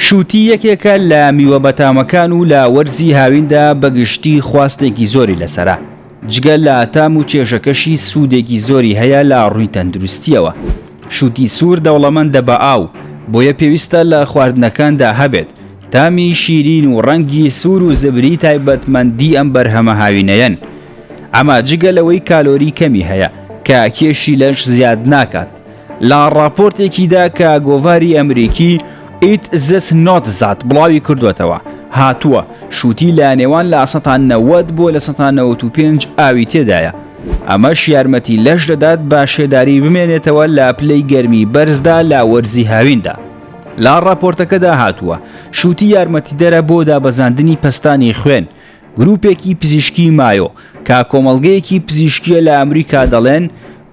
شووتی یەکێکە لە میوە بەتامەکان و لە وەرزی هاویندا بە گشتی خواستێکی زۆری لەسەرە، جگە لە تام و کێشەکەشی سوودێکی زۆری هەیە لە ڕووی تەندروستییەوە. شووتی سوور دەوڵەمەندە بە ئاو، بۆیە پێویستە لە خواردنەکاندا هەبێت، تامی شیرین و ڕەنگی سوور و زبری تایبەتمەندی ئەم بەرهەمە هاوینەیەن، ئەمە جگە لەوەی کالۆری کەمی هەیە کە کێشی لەش زیاد ناکات. لە ڕاپۆرتێکیدا کە گۆڤاری ئەمریکی، It This Not That، بڵاوی کردووەتەوە، هاتووە، شووتی لە نێوان لە سەتا نەوەد بۆ لە سەتا نەوەت و پێنج ئاوی تێدایە، ئەمەش یارمەتی لەش دەدات بە شێداری بمێنێتەوە لە پلەی گەرمی بەرزدا لە وەرزی هاویندا. لە ڕاپۆرتەکەدا هاتووە، شووتی یارمەتیدەرە بۆ دابەزاندنی پەستانی خوێن، گروپێکی پزیشکی مایۆ، کە کۆمەڵگەیەکی پزیشکییە لە ئەمریکا دەڵێن،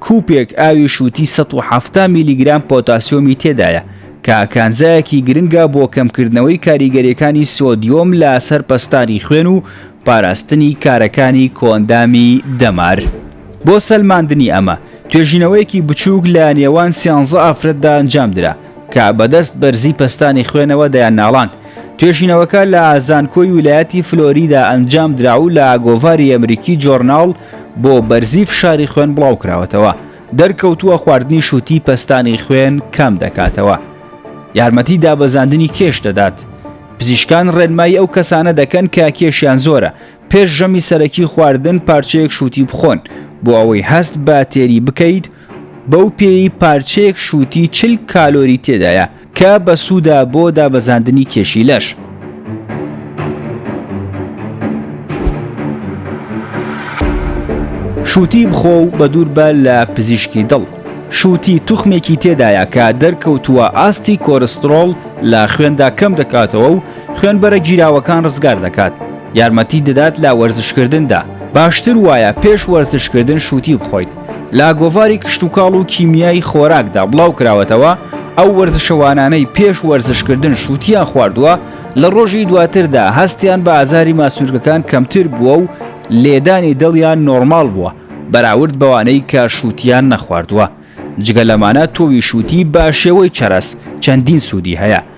کوپێک ئاوی شووتی سەد و حەفتا میلیگرام پۆتاسیۆمی تێدایە، کە کانزایەکی گرنگە بۆ کەمکردنەوەی کاریگەرییەکانی سۆدیۆم لە سەر پەستانی خوێن و پاراستنی کارەکانی کۆئەندامی دەمار. بۆ سەلماندنی ئەمە، توێژینەوەیەکی بچووک لە نێوان سیانزە ئافرەتدا ئەنجامدرا، کە بە دەست بەرزی پەستانی خوێنەوە دەیانناڵاند. توێژینەوەکە لە زانکۆی ویلایەتی فلۆریدا ئەنجام درا و لە گۆڤاری ئەمریکی جۆرناڵ بۆ بەرزی فشاری خوێن بڵاو کراوەتەوە. دەرکەوتووە خواردنی شووتی پەستانی خوێن کەم دەکاتەوە. یارمەتی دابەزاندنی کێش دەدات. پزیشکان ڕێنمایی ئەو کەسانە دەکەن کە کێشیان زۆرە پێش ژەمی سەرەکی خواردن پارچەیەک شووتی بخۆن بۆ ئەوەی هەست بە تێری بکەیت بەو پێیەی پارچەیەک شووتی چل کالۆری تێدایە، کە بەسوودە بۆ دابەزاندنی کێشی لەش. شووتی بخۆ و بەدووربە لە پزیشکی دڵ. شووتی توخمێکی تێدایە کە دەرکەوتووە ئاستی کۆرستڕۆڵ لە خوێندا کەم دەکاتەوە و خوێنبەرە گیراوەکان ڕزگار دەکات، یارمەتیت دەدات لە وەرزشکردندا، باشتر وایە پێش وەرزشکردن شووتی بخۆیت. لە گۆڤاری کشتوکاڵ و کیمیای خۆراکدا بڵاوکراوەتەوە، ئەو وەرزشەوانانەی پێش وەرزشکردن شووتیان خواردووە، لە ڕۆژی دواتردا هەستیان بە ئازاری ماسولکەکان کەمتر بووە و لێدانی دڵیان نۆرماڵ بووە، بەراورد بەوانەی کە شووتیان نەخواردووە. جگە لەمانە تۆوی شووتی بە شێوەی چەرەس چەندین سوودی هەیە،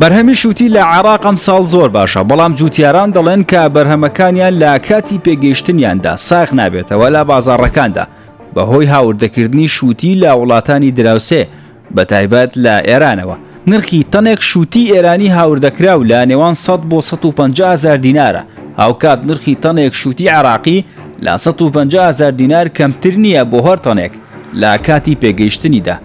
بەرهەمیش وتی لە عێراق ئەمساڵ زۆر باشە، بەڵام جووتیاران دەڵێن کە بەرهەمەکانیان لە کاتی پێگەیشتنیاندا ساغ نابێتەوە لە بازاڕەکاندا، بەهۆی هاوردەکردنی شووتی لە وڵاتانی دراوسێ بەتایبەت لە ئێرانەوە، نرخی تەنێک شووتی ئێرانی هاوردەکراو لە نێوان سەد بۆ سەد و پەنجا هەزار دینارە، هاوکات نرخی تەنێک شووتی عێراقی لە سەد و پەنجا هەزار دینار کەمتر نییە بۆ هەر تەنێک لە کاتی پێگەیشتنیدا.